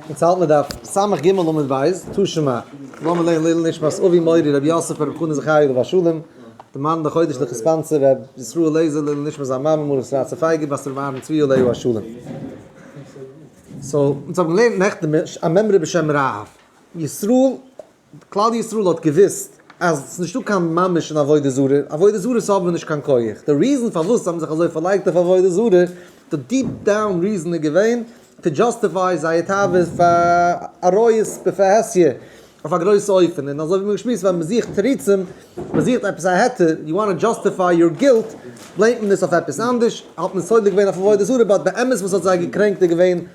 אונז האלט מען דף סמ ג עמוד בית, תשמ א, לאמיר לערנען לעילוי נשמת אבי מורי רבי יוסף פאר רבי חנא זכרי' עליו השלום, די מאן דחודש די חספאנצער רבי ישראל לעזער, לעילוי נשמת זיין מאמע מרת רצה פייגא בת רבי אהרן צבי עליו השלום. סאו, אונז האבן געלערנט נעכטן א מימרא בשם ר' ישראל כלל ישראל האט געוואוסט אז ס'איז נישטא קיין ממש אין עבודה זרה, עבודה זרה'ס האבן נישט קיין כח, די ריזען פארוואס זיי האבן זיך אזוי פארלייגט אויף עבודה זרה, די דיעפ דאון ריזען איז געווען טו דזשאסטיפיי זייער תאוות פאר עריות בפרהסיא אויף א גרויסע אופן, און אזוי ווי מ'האט געשמועסט ווען מ'זוכט תירוצים, מ'זוכט עפעס א היתר, יו וואנט טו דזשאסטיפיי יור גילט, בלעימט מען עס אויף עפעס אנדערש, האט מען סולד געווען אויף עבודה זרה, באט באמת וואס האט זיי געקרענקט איז געווען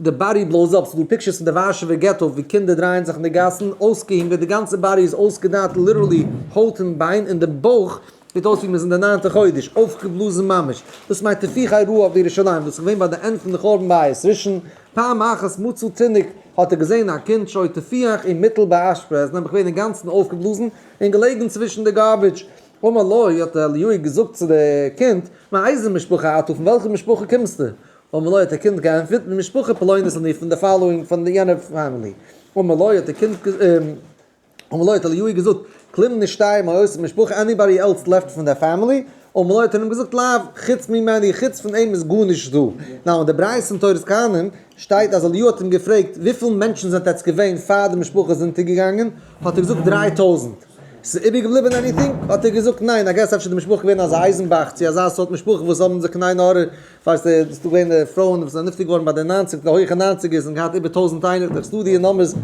די באדי בלאוז אפ, ס'דא פיקטשערס פון די ווארשעווער געטא ווי קינדער דרייען זיך אין די גאסן, אויסגעהונגערט, די גאנצע באדי איז אויסגעדייט ליטערלי הויט און ביין, און די בויך זעט אויס ווי מ'איז אין די ניינטע חודש, אויפגעבלאזן ממש, דאס מיינט טפיחי רעה אויף ירושלים, דאס איז געווען ביי די ענד פון די חורבן בית ראשון, פעם אחת מצא תינוק, האט ער געזען א קינד שוי טפיח אין מיטל באשפע, איז נעבעך געווען אינגאנצן אויפגעבלאזן, און געלעגן צווישן די גארביטש, אמר לו, האט אליהו געזאגט צו די קינד, מאיזה משפחה אתה, פון וועלכע משפחה קומסטו? ומלא האט די קינד געענטפערט, די משפחה פלונית איז מיר פון די פאלאואינג פון די יענער פעמילי. ומלא האט די קינד ומלא האט אליהו געזאגט, כלומר נישט שטייען מיין הויז און משפחה עניבאדי עלס לעפט פון די פעמילי? ומלא האט ער אים געזאגט לאו, חוץ ממני, חוץ פון אים איז גארנישט דא. נאו אין די ברייתא אין תורת כהנים שטייט אז אליהו האט אים געפרעגט וויפיל מענטשן זענט עטץ געווען פאר די משפחה איז אונטער געגאנגען? האט ער געזאגט דריי טויזנט. ס'איז איבער געבליבען עניטינג? האט ער געזאגט ניין, איי געס אפשר איז די משפחה געווען אזא אייזנבאך צו אזא סארט משפחה וואס האבן זיך קיין עין הרע פארסט דו, עס איז דא געווען פרויען וואס זענען נפטר געווארן ביי די ניינציג, די הויכע ניינציגערס, און געהאט איבער טויזנט איינער, דאך ס'דא די נומבערס.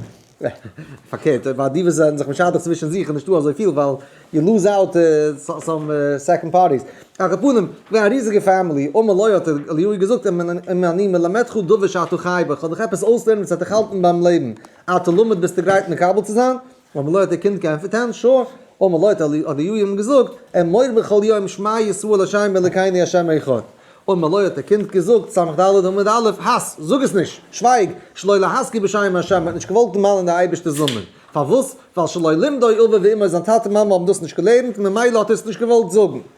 פארקערט, ביי די וואס זענען זיך משדך צווישן זיך איז נישטא אזויפיל, ווייל יו לוז אוט סאם סעקאנד פארטיס. על כל פנים, געווען א ריזיגע פעמילי, אמר לוי האט אליהו געזאגט אים, אם אני מלמדך דבר שאתה חי בו, איך וועל דיך עפעס אויסלערנען וואס וועט דיך האלטן ביים לעבן, אתה לומד ביסטו גרייט מקבל צו זיין? האבן לויט די קינד געענטפערט הן שוא, האבן לויט אליהו אים געזאגט, אמור בכל יום שמע ישראל השם אלקינו השם אחד, האבן לויט די קינד געזאגט סמך ד' עמוד א', האס, זאג עס נישט, שווייג, שלא להזכיר בשם השם, מען האט נישט געוואלט דערמאנען די אייבערשטער'ס נאמען, פארוואס? ווייל שלא לימדו אביו ואמו, זיין טאטע מאמע האבן דאס נישט געלערנט, ממילא האט ער עס נישט געוואלט זאגן.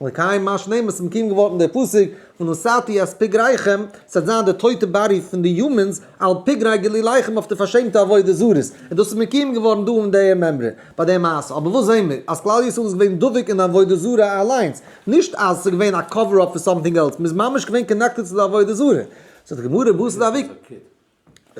לקיים מה שנאמר, ס'האט מקויים געווארן דער פסוק, ונשאתי את פגריכם, ס'וועט זיין די טויטע באדי פון די יומענס, על פגרי גליליכם אויף די פארשעמטע עבודה זרות, און דאס איז מקויים געווארן דא אין דער מימרא, ביי דער מעשה, אבער וואס זעען מיר? אז כלל ישראל איז געווען דבוק אין עבודה זרה אליינס, נישט אז ס'איז געווען א קאווער אפ פאר סאמטינג עלס, מ'איז ממש געווען קאנעקטעד צו די עבודה זרה, זאגט די גמרא, בשר דאביק.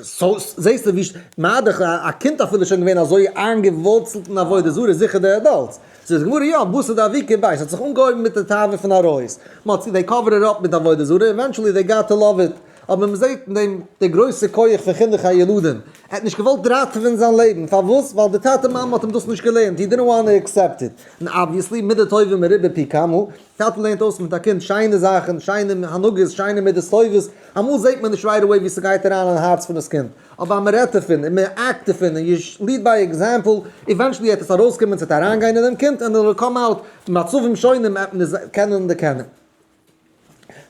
סאו זעהסטו ווי מאדעך א קינד אפילו איז שוין געווען אזוי איינגעווארצלט אין עבודה זרה זיכער די עדאלטס. ס'איז גמרא יא בשר דאביקי בית ס'האט זיך אנגעהויבן מיט די תאווה פון עריות מ'האט צו דעי קאווער איט אפ מיט עבודה זרה עווענטשעלי דעי גאט טו לאוו איט אבער מ'זעהט אין דעם די גרויסע כח פון חינוך הילדים ער האט נישט געוואלט ראטעווען זיין לעבן פארוואס ווייל די טאטע מאמע האט אים דאס נישט געלערנט הי דידענט וואנט טו עקסעפט איט און אבוויעסלי מידות טובים מרובה פי כמה טאטע לערנט אויס מיט א קינד שיינע זאכן, שיינע הנהגות, שיינע מידות טובות, אמאל זעט מען נישט רייט אוועי ווי ס'גייט אריין אין הארץ פון דאס קינד, אבער אז מ'רעדט דערפון און מ'עקט דערפון און יו ליד ביי עקזעמפל, איווענטשעלי וועט עס ארויסקומען ס'וועט אריינגיין אין דעם קינד און איט וויל קאם אוט במצבים שונים מאת מיר זענען קענען די קענער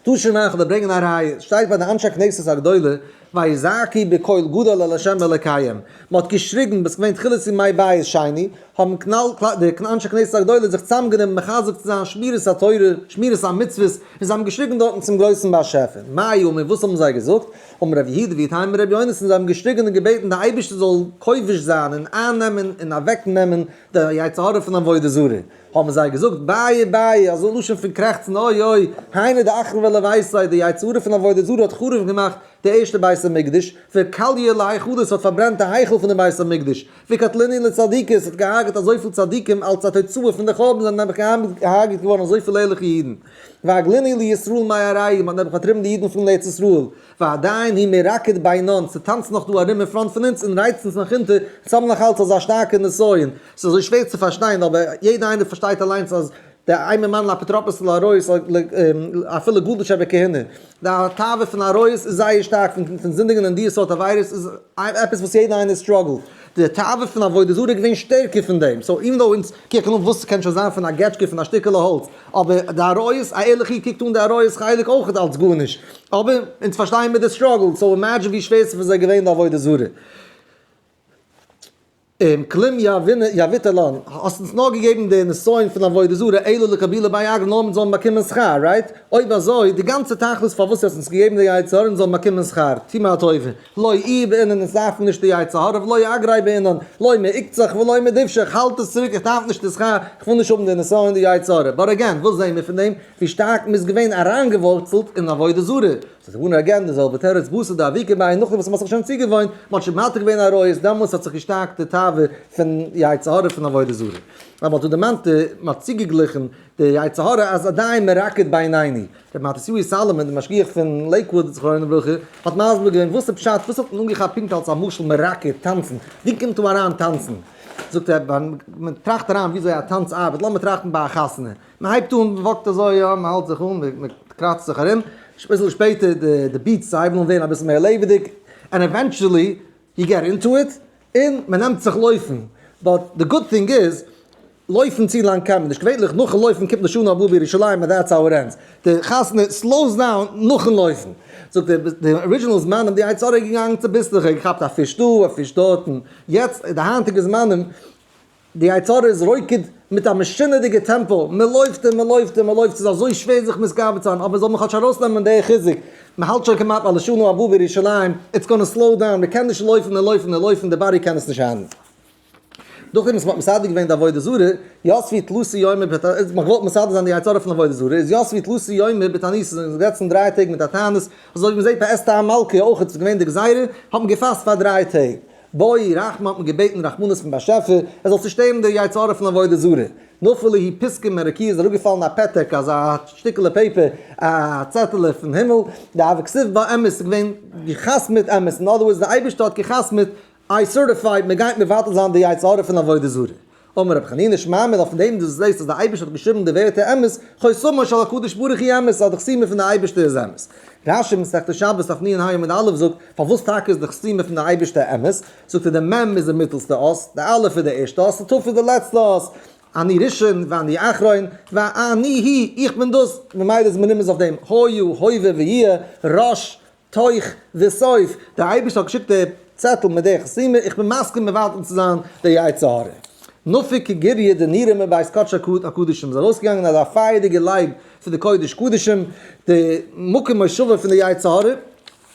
טוישן מאכן אדער ברענגען א ראיה, שטייט ביי די אנשי כנסת הגדולה. ויזעקו בקול גדול אל השם אלקיהם, מען האט געשריגן ביז ס'געווען תחילת ימי בית שני, האבן כנל ק די אנשי כנסת הגדולה זיך צוזאמגענומען מחזק צו זיין שמירת התורה, שמירת המצוות, און זיי האבן געשריגן דארטן צום גרויסן באשעפער, מאי אמרו וואס האבן זיי געזאגט, אמר רבי יהודה ויתהמה רבי יונתן, זיי האבן געשריגן און געבעטן די אייבערשטער זאל כובש זיין און אייננעמען און אוועקנעמען די יצר הרע פון עבודה זרה. האבן זיי געזאגט, בייע בייע, אזוי לשון פון קרעכצן, אוי אוי, היינו די אחרון ועל הבית, די יצר הרע פון עבודה זרה האט חרוב געמאכט די ערשטע בית המקדש, וקליה להיכלות, האט פארברענט די היכל פון דעם בית המקדש, וקטלני לצדיקות, האט געהארגעט אזויפיל צדיקים, אלס א תוצאה פון די חורבן זענען נעבעך געהארגעט געווארן אזויפיל ערליכע אידן, והגליני לישראל מאי ארעי, מען האט נעבעך פארטריבן די אידן פון ארץ ישראל, פארדייען ווי מען ראקעט ביינאנד, ס'טאנצן נאך דא ארום אין פראנט פון אונז און רייצן אונז נאך אונטער, אונז האבן נאך אלץ אזא שטארקע נסיון, ס'איז אזוי שווער צו פארשטיין, אבער יעדער איינער פארשטייט אליינס אז דער איימער מנל'ע אפוטרופוס'ל ארויס אפילו גארבעטשעווער כהונה, די תאווה פון ארויס איז זייער שטארק פון זינדיגן אין דיע סארט עבירות איז עפעס וואס יעדער איינער סטראגלט, די תאווה פון עבודה זרה איז געווען שטערקער פון דעם, סאו איווען דאו אונז קוקן אן וואס ס'קען שוין זיין פון א געטשקע פון א שטיקעלע האלץ, אבער די עריות, א ערליכע איד קוקט אן די עריות חלק אויכעט אלץ גארנישט, אבער אונז פארשטייען מיר די סטראגל, סאו אימעדזשין ווי שווער ס'איז פאר זיי געווען די עבודה זרה. און כלים יביט עליון, האסט אונז נאר געגעבן די נסיון פון עבודה זרה אלא לקבילה ביי אגרא נאר מיר זאלן באקומען שכר, רייט? אויב אזוי, די גאנצע תכלית פארוואס דו האסט אונז געגעבן די יצר הרע אונז זאלן באקומען שכר, טו מיר א טובה, לא עיר בעינן אונז דארפן נישט די יצר הרע ולא אגרי בעינן, לא מעוקצך ולא מדבשך, האלט עס צוריק איך דארף נישט די שכר, איך וויל נישט האבן די נסיון די יצר הרע, באט אגעין וואס זעהן מיר פון דעם? ווי שטארק מ'איז געווען אריינגעווארצלט אין עבודה זרה, ס'איז געווארן אגעין די זעלבע תירוץ בשר די אבי כמים, נאכדעם וואס מ'האט זיך שוין צוגעוואוינט, מ'האט שוין מוותר געווען על עריות, דעמאלס האט זיך געשטארקט די תאווה פון יצר הרע פון עבודה זרה, ווייל מ'האט דא דערמאנט, מ'האט צוגעגליכן די יצר הרע אז עדיין מ'רקד בעיניני, רבי מתתיהו סאלאמען די משגיח פון לעיקוואד זכרונו לברכה האט מסביר געווען וואס איז פשט, וואס האט מען אנגעכאפט פונקט אלס א משל מ'רקד, טאנצן, ווי קומט דא אריין טאנצן? זאגט ער, מ'טראכט אריין וויאזוי א טאנץ ארבעט, לאמיר טראכטן ביי א חתונה. מען הייבט אן, מען וואקט אזוי יא, מען האלט זיך אן, מען קראצט זיך ארום, אביסל שפעטער די ביטס הייבן אן ווערן אביסל מער לעבעדיג, ענד עווענטשעלי יו געט אינטו איט, און מען נעמט זיך לויפן, באט די גוד טינג איז, לויפן צו לאנג קען מען נישט, געווענליך נאכן לויפן קומט לשנה הבאה בירושלים און דעטס האו איט ענדס, די חתונה סלאוס דאון נאכן לויפן, זאגט ער, די ארידזשינעל זמנים די יצה ר איז געגאנגען צוביסלעך, ער האט געכאפט א פיש דא, א פיש דארט, און יעצט די היינטיגע זמנים, די יצה ר איז רוקד מיט א משונה'דיגע טעמפא, מען לויפט און מען לויפט און מען לויפט, ס'איז אזוי שווער זיך מתגבר צו זיין, אבער זאל מען כאטש ארויסנעמען די חיזוק, מען האלט שוין כמעט ביי לשנה הבאה בירושלים, איטס גאנע סלאו דאון, מען קען נישט לויפן און לויפן און לויפן, די באדי קען עס נישט האנדלן. דורכדעם וואס מען האט מסדר געווען די עבודה זרה, יוסף ווי תלוסי יומי בעת עניסה, מען האט געוואלט מסדר זיין די יצה ר פון עבודה זרה, איז יוסף ווי תלוסי יומי בעת עניסה, זיי זענען געזעצן דריי טעג מיט א תענית, אזוי ווי מען זעט ביי אסתר המלכה אויך איז עס געווען די גזירה, האט מען געפאסט פאר דריי טעג, בואי רחמא האט מען געבעטן רחמנות פון באשעפער ער זאל צושטערן די יצר הרע פון עבודה זרה, נפל ליהי פסקו מרקיע איז אראפגעפאלן א פתק אזא שטיקעלע פעיפער א צעטעלע פון הימל, די אבק סביב בה אמת איז געווען גע'חתמ'עט אמת, אין אדער ווארדס די אייבערשטער האט גע'חתמ'עט איי סערטיפייד מען גייט מבטל זיין די יצר הרע פון עבודה זרה. אמר רבי חנינא שמע מיר אז פון דעם דו זעסט אז דער אייבערשטער האט געשריבן די ווערטער אמת, חותמו של הקדוש ברוך הוא אמת, אז די חתימה פון דער אייבערשטער איז אמת. רשי מסכת שבת דף נ' עמוד א' זאגט, פארוואס טאקע איז די חתימה פון דער אייבערשטער אמת? זאגט ער, די מ' איז די מיטעלסטע אות, די א' איז די ערשטע אות, די ת' איז די לעצטע אות, אני ראשון ואני אחרון, ואני היא, איך בין דאס, ממילא איז מען נרמז אויף דעם, הוי הוא, הווה ויהיה, ראש, תוך וסוף, דער אייבערשטער האט געשיקט די צעטל מיט די חסימה, איך בין מסכים מבטל צו זיין די יצר הרע. נפיק גיריה דנירא מבית קדשי הקדשים, איז ארויסגעגאנגען אזא פייערדיגע לייב פון די קודש קדשים, די מקום מושבו פון די יצר הרע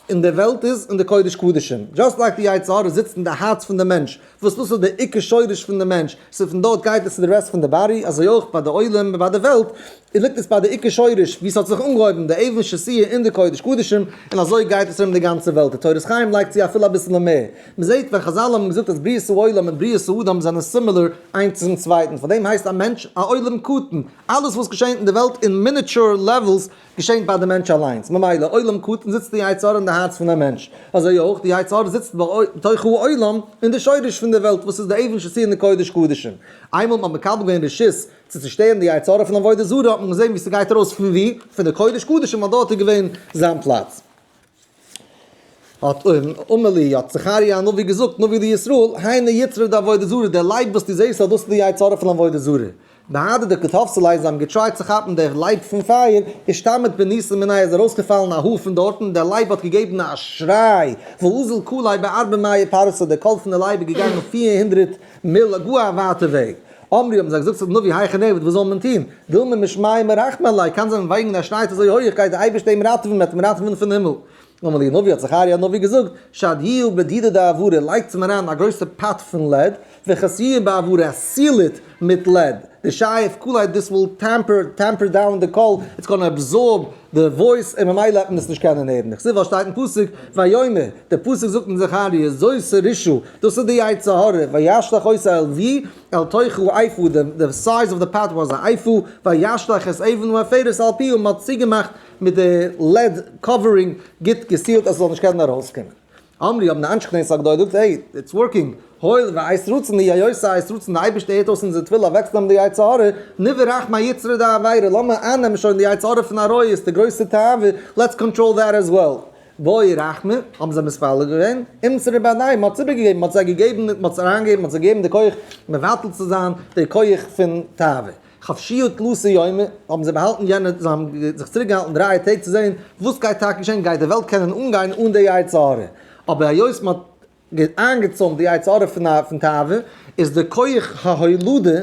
אין די וועלט איז אין די קודש קדשים, דזשאסט לייק די יצר הרע זיצט אין די הארץ פון די מענטש, וואס דאס איז דער עיקר שורש פון די מענטש, ס'איז פון דארט גייט עס צו די רעסט פון די באדי, אזוי אויך ביי די עולם און ביי די וועלט, איז ליגט עס ביי די עיקר שורש ווי ס'האט זיך אנגעהויבן די אבן שסיה אין די קודש קדשים, און אזוי גייט עס ארום די גאנצע וועלט, די תורת חיים לייגט צו אפילו אביסעלע מער, מ'זעט ווען חזל האבן געזאגט אז בריאת העולם און בריאת האדם זענען סימילער איינס צום צווייטן, פאר דעם הייסט א מענטש א עולם קטן, אלעס וואס געשענט אין די וועלט אין מיניטשור לעוועלס געשענקט ביי די מענטש אליינס, ממילא עולם קטן זיצט די יצר אין די הארץ פון א מענטש, אזוי אויך די יצר זיצט בתוך העולם אין די שורש פון די וועלט וואס איז די אבן שסיר און קודש קדשים, איינמאל מען האט מקבל געווען רשות צו צושטערן די יצר פון עבודה זרה האט מען געזען ווי ס'גייט ארויס פון ווי? פון די קודש קדשים ווייל דארט איז געווען זיין פלאץ. האט אמר לי, האט זכריה הנביא געזאגט, נביא לישראל, הנה יצרה דעבודה זרה, דער לייב וואס דו זעסט, דאס איז די יצה ר פון עבודה זרה. ביידע די קארטאפסעלייזן האבן געטרייט צו כאפן דער לייב פון פייער, און שטאמעט בניסן מנין איז ארויסגעפאלן א האר פון דארט, און דער לייב האט געגעבן א שריי, והוזל כלי בארבע מאה פרסה, דער קול פון די לייב איז געגאנגען פיר הונדרעט, מילא גאר א ווייטע וועג. אמרי האבן זיי געזאגט צו די נביא היכי נעבוד וואס זאל מען טון? וויל מען משמיים מרחמים עלי, קאן זיין וועגן ווען ער שניידט אזוי הויעך גייט דער אייבערשטער אים ראטעווען מען וועט אים ראטעווען פון הימל. אמרי הנביא האט זכריה הנביא געזאגט שד י ובדידה דעברה לייגטס אים אריין א גרויסע פאט פון לעד וכס י בעברה סיל איט מיט לעד די שייף קאלייט דיס וויל טעמפער דאון די קאל איטס גאנא אבזארב די וואויס און ממילא העט מען עס נישט קענען הערן, איך זיך וואס שטייט אין פסוק ויאמר, די פסוק זאגט אין זכריה זושא רישא, דאס איז די יצר הרע, וישלח עשו אל ווי? אל תוכו אייפו, די סייז אוו די פאט וואס א אייפו, וישלח את אבן העפרת אל פיהו, מען האט צוגעמאכט מיט די לעד קאווערינג גוט געסיעלט אז עס זאל נישט קענען ארויסקומען, אמרי האבן די אנשי כנסת הגדולה געזאגט, העי, איטס ווארקינג, הואיל והאיס רצון היא היועצת האיס רצון, די אייבערשטער הערט אויס אונזער תפילה אוועקצונעמען די יצר הרע, נביא רחם היצרי דעבירה, לאמיר אייננעמען שוין די יצר הרע פון עריות, די גרויסע תאווה, לעטס קאנטראל דעט עז וועל. בואי רחמי, האבן זיי מתפלל געווען, אומצער רבי אדניי, מען האט איבערגעגעבן, מען האט זיי געגעבן, מען האט זיי אריינגעגעבן, מען האט זיי געגעבן די כח מבטל צו זיין די כח פון תאווה. חפשיות תלותי יומי, האבן זיי באהאלטן יענע, זיי האבן זיך צוריק געהאלטן דרײַ טעג צו זען וואס גייט טאקע געשען, גייט די וועלט קענען אנגיין אן די יצר הרע, אבער היות מען האט איינגעצוימט די יצר הרע פון תאווה, איז די כח ההולדה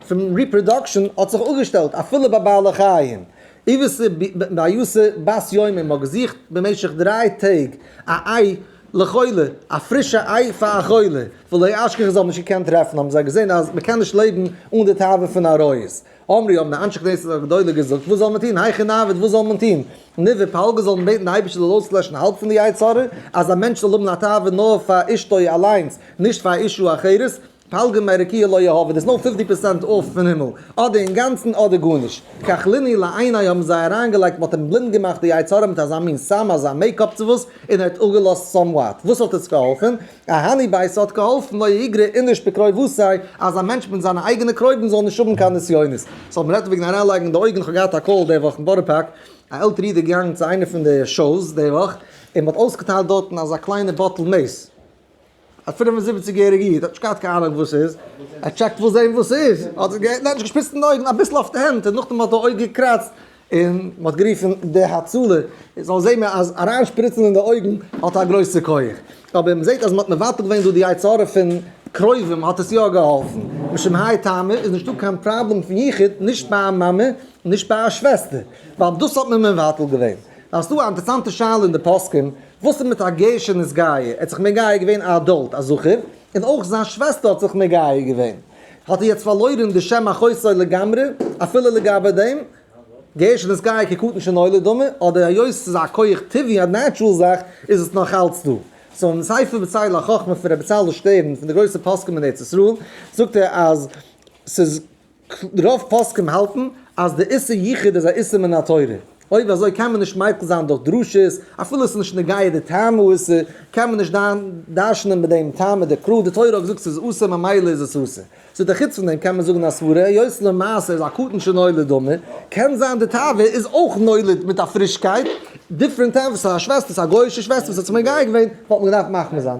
פון ריפראדאקשען האט זיך אפגעשטעלט אפילו ביי בעלי חיים, איוואסע ביוסע בת יומים האט געזוכט במשך דרײַ טעג א איי לחולה, א פרישע איי פאר א חולה, ולא אשכח איך זאל נישט געקענט טרעפן, האבן זיי געזען אז מען קען נישט לעבן אן די תאווה פון עריות, אמרי האבן די אנשי כנסת הגדולה געזאגט וואס זאל מען טון, היכי נעבוד וואס זאל מען טון, נו ווי פאלגער זאל מען בעטן די אייבערשטער זאל אויסלעשן האלב פון די יצר הרע, אז א מענטש זאל האבן א תאווה נאר פאר אשתו אליינס, נישט פאר אישה אחרת, פלגים מעריקיא לא יהא, ווען עס נאר פופטי פערסענט אויף פון הימל, אדער אינגאנצן אדער גארנישט. כחליני לעיני האבן זיי אריינגעלייגט, מען האט אים בלינד געמאכט די יצר הרע מיט אזא מין סם, אזא מעיקאפ צו וואס, און ער האט אפגעלאזט סאמוואט. וואס האט עס געהאלפן? א האני ביי, ס'האט געהאלפן לא יגרע איניש בקרוביסי, אז א מענטש מיט זיינע אייגענע קרובים זאל נישט האבן קיין נסיונות. סאו מען רעדט וועגן אריינלייגן די אויגן, כ'האב געהאט א קאל די וואך אין בארא פארק, א עלטערע איד איז געגאנגען צו איינע פון די שאוס די וואך, און מען האט אויסגעטיילט דארטן אזא קליינע באטל מעיס, א פֿינף און זיבעציק יעריגע איד האט נישט געהאט קיין אהנונג וואס ס'איז, ער טשעקט וואס זעהן וואס ס'איז, ער האט זיך געהערט און ער האט זיך געשפיצט אין די אויגן אביסל אויף די הענט און נאכדעם האט די אויג געקראצט און מ'האט גערופן די הצלה, זאל זעהן מען אז אריין שפריצן אין די אויגן האט א גרויסע כח, אבער מ'זעהט אז מ'האט מבטל געווען דא די יצר הרע פון קרובים האט עס יא געהאלפן, משום האי טעמא איז נישטא קיין פראבלעם פון יחוד נישט ביי א מאמע און נישט ביי א שוועסטער, ווייל דאס האט מען מבטל געווען. אז ס'דא א אינטערסאנטע שאלה אין די פוסקים וואס איז מיט א געישע נזגאי? ער האט זיך מגיה געווען א אדולט א זכר, און אויך זיין שוועסטער האט זיך מגיה געווען, האט ער יעצט פארלוירען די שם החוסר לגמרי, אפילו לגבי דעם, געישע נזגאי כקטן שנולד דומה, אדער היות ס'איז א כח טבעי א נעטשרול זאך, איז עס נאך אלץ דא. סאו אין ספר בצל החכמה פון ר' בצלאל שטערן פון די גרויסע פוסקים אין ארץ ישראל, זאגט ער אז ס'איז. רוב פוסקים האלטן אז די איסור ייחוד איז א איסור מן התורה, אויב אזוי קען מען נישט מייכל זיין דורך דרשות, אפילו עס איז נישט נוגע די טעם האיסור, קען מען נישט דרש'נען מיט דעם טעם מיט די קרא, די תורה האט געזאגט ס'איז אסור ממילא איז עס אסור. זאגט ער חוץ פון דעם קען מען זאגן א סברה היות למעשה איז הקטן שנולד דומה, קען זיין די תאווה איז אויך נולד מיט א פרישקייט, דיפרענט טעם, וואס א שוועסטער ס'איז א גוי'אישע שוועסטער וואס האט זיך מגיה געווען וואלט מען געדארפט מחמיר זיין.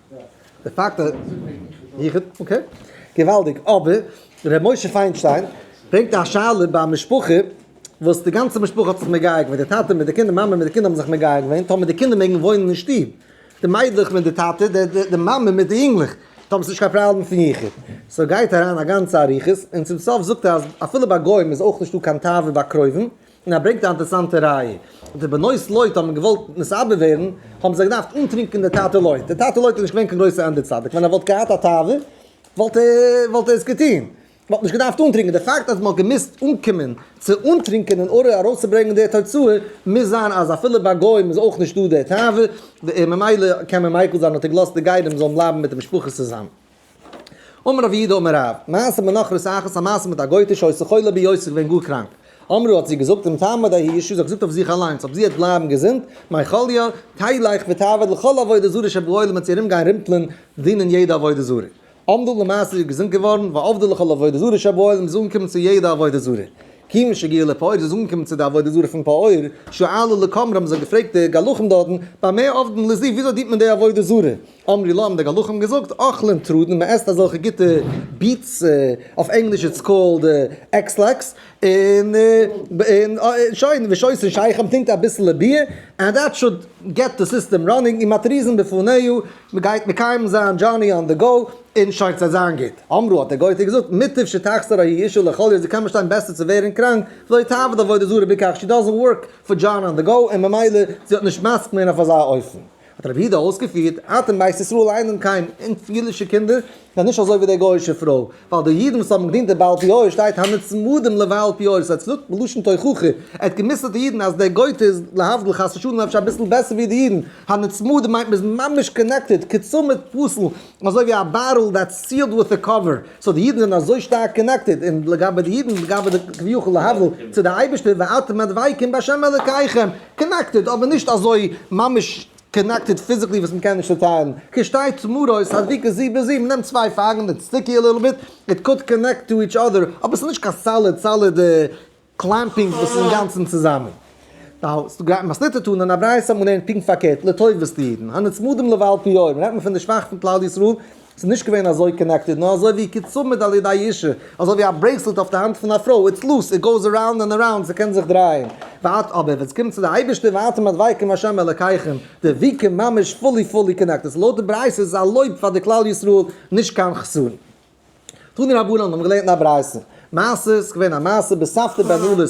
די פאקט אז יחוד אקעי געוואלדיג אבער ר' משה פיינשטיין ברענגט א שאלה ביי א משפחה וואס די גאנצע משפחה האט זיך מגיה געווען די טאטע מיט די קינדער מאמע מיט די קינדער האבן זיך מגיה געווען טאמער די קינדער מעגן וואוינען אין שטוב די מיידלעך מיט די טאטע די מאמע מיט די יונגלעך האבן נישט קיין פראבלעם פון יחוד סאו גייט אריין א גאנצע אריכות און צום סוף זאגט ער אז אפילו ביי גוים איז אויך נישטא קיין תאווה ביי קרובים און ער ברענגט א אינטערעסאנטע ראיה, די בנות לוט האבן געוואלט מסתערב ווערן, האבן זיי געדארפט אנטרינקען די טאטע לוט, די טאטע לוט איז נישט געווען קיין גרויסע ענדע צדיק, ווען ער וואלט געהאט א תאווה וואלט ער וואלט ער עס געטון, מען האט נישט געדארפט אנטרינקען, די פאקט אז מען האט געמוזט אנקומען צו אנטרינקען אין ארער ארויסצוברענגען די תוצאה, מוז זיין אז אפילו ביי גוים איז אויך נישטא די תאווה, ממילא קען מען מיקל זיין האט ער געלאזט די גיידעם זאלן בלייבן מיט די משפחה צוזאם. אמר רבי אידה אמר רב, מעשה מנחרס אחת, א מעשה מיט א גויטע שעושה חולה ביד זי איז געווען גאר קראנק. אמרו האט זי געזאגט אם תעמוד ההיא אישה זי האט געזאגט אויף זיך אליינס אויב זי וועט בלייבן געזונט מאי חליא, תלך ותעבוד לכל עבודה זרה שבעולם וועט זי ארום גיין רימפלען דינען יעדע עבודה זרה. עמדה למעשה זי איז געזונט געווארן, ועבדה לכל עבודה זרה שבעולם זי איז אנגעקומען צו יעדע עבודה זרה. כיוון שהגיעה לפעור זי איז אנגעקומען צו די עבודה זרה פון פעור, שאלו לקמר האבן זיי געפרעגט די גלחים דארטן, במה עובדין לזיו וויאזוי דינט מען די עבודה זרה? אמרי להם די גלחים האבן געזאגט אכלן טרודן מען עסט אזעלכע גוטע ביטס אויף ענגליש איטס קאלד עקסלעקס און און שוין ושויס און שייך מען טרינקט אביסעלע ביר ענד דעט שוט געט די סיסטעם ראנינג און מתריזין בפניו מען גייט מקיים זיין דזשארני אן די גאו און שוין ס'וועט זיין גוט אמרו האט דער גויטע געזאגט מוטב שתחסר ההיא אישה לכל יום זי קען באשטיין בעסער צו ווערן קראנק לא תעבוד עבודה זרה בכך שי דאזענט ווארק פאר דזשארני אן די גאו און ממילא זי האט נישט מסכים געווען אויף אזא אופן האט רבי יהודה אויסגעפירט, אתם בית ישראל אינן קיים, אונז אידישע קינדער זענען נישט אזוי ווי די גוי'אישע פרוי, ווייל די אידן וואס האבן געדינט די בעל פיאות שטייט הנצמדים לבעל פיאות, ס'הייסט צוליב בלשון תוכחה, ער האט גע'מוסר'ט די אידן אז די גוי'טע איז להבדיל חס ושלום אפשר אביסל בעסער ווי די אידן, הנצמדים מיינט מ'איז ממש קאנעקטעד, כצמד פסל, אזוי ווי א בארעל דעטס סיעלד וויט א קאווער, סאו די אידן זענען אזוי שטארק קאנעקטעד, און לגבי די אידן לגבי די כביכול להבדיל צו די אייבערשטער ואתם הדבקים בה' אלוקיכם, קאנעקטעד אבער נישט אזוי ממש קאנעקטעד פיזיקלי וואס מ'קען נישט צוטיילן. כשתי צמרות הדביקות זו בזו, מען נעמט צוויי פארן און סטיקי א ליטל ביט, איט קאלד קאנעקט טו איטש אדער, אבער ס'איז נישט קיין סאליד סאליד קלעמפינג וואס איז אינגאנצן צוזאמען. נאו, ס'איז גרייט מסניט צו טאן און א ברייתא מאן דעם פונקט פארקערט, לטובת די אידן הנצמדים לבעל פיאות, רעדט מען פון די שוואכע פון כלל ישראל, ס'איז נישט געווען אזוי קאנעקטעד, נאר אזוי ווי קצב מיט א ליד א ישיר, אזוי ווי א ברעיסלעט אויף די האנט פון א פרוי, איטס לוס, איט גאוס אראונד אנד אראונד, ס'קען זיך דרייען. וואט אבער ווען ס'קומט צו די אייבערשטער ואתם הדבקים השם אלקיכם, דביקה ממש פולי פולי קאנעקטעד, סאו לויט די ברייתא איז עס א לויב פאר די כלל ישראל, נישט קיין חסרון. תני רבנן, מיר האבן געלערנט אין א ברייתא, מעשה, ס'איז געווען א מעשה בסבתא בן עלות,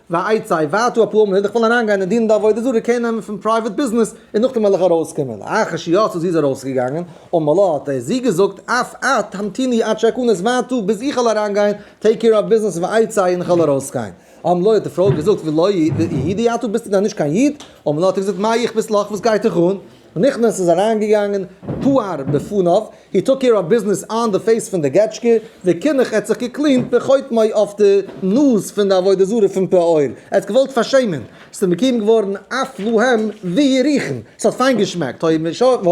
ועצה, ואתו אפרו אמרו, איך וועל אריינגיין און דינען די עבודה זרה, קעיר נעמען פון פרייוועט ביזנעס, און נאכדעם וועל איך ארויסקומען. אחרי שיצא זי איז ארויסגעגאנגען, אמר לה, האט ער זי געזאגט, אף את המתיני עד שאכנס ואתו, ביז איך וועל אריינגיין, טעיק קעיר אויף ביזנעס, ועצה, און איך וועל ארויסגיין. אמר לה, האט די פרוי געזאגט, ולא איהי די עתו, ביסטו דען נישט קיין איד? אמר לה, האט ער געזאגט, מה איכפת לך, וואס גייט דיך אן? נכנס איז אריין געגאנגען פאהר בפניו, הי טאק קעיר אוו ביזנעס אן די פעיס פון די געטשקע, ווי קינח ער האט זיך געקלינט בחותמו אויף די נאז פון די עבודה זרה פון פאהר, ער האט געוואלט פארשעמען, ס'איז אים קוים געווארן אף להם ווי יריחם, ס'האט פיין געשמעקט, הוי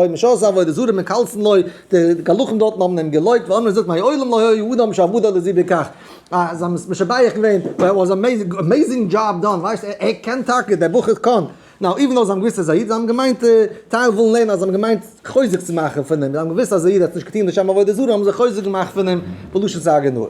משעשה עבודה זרה מקלסן לו, די גלחים דארטן האבן אים געלויבט, ווען איינער זאגט מי העולם לו הוי האדם שעבדה לזיו בכך, אז זיי האבן עס משבח געווען, וואו ער וואס עמעזינג דזשאב דאן, ווייסט ער קען טאקע, דער בחור קאן. נאו איווען נאו זיי האבן געוויסט אז א איד זיי האבן געמיינט טייל ווילן לערנען אז זיי האבן געמיינט חוזק צו מאכן פון אים זיי האבן געוויסט אז א איד האט נישט געטון לשם עבודה זרה האבן זיי חוזק געמאכט פון אים בלשון סארגענאר.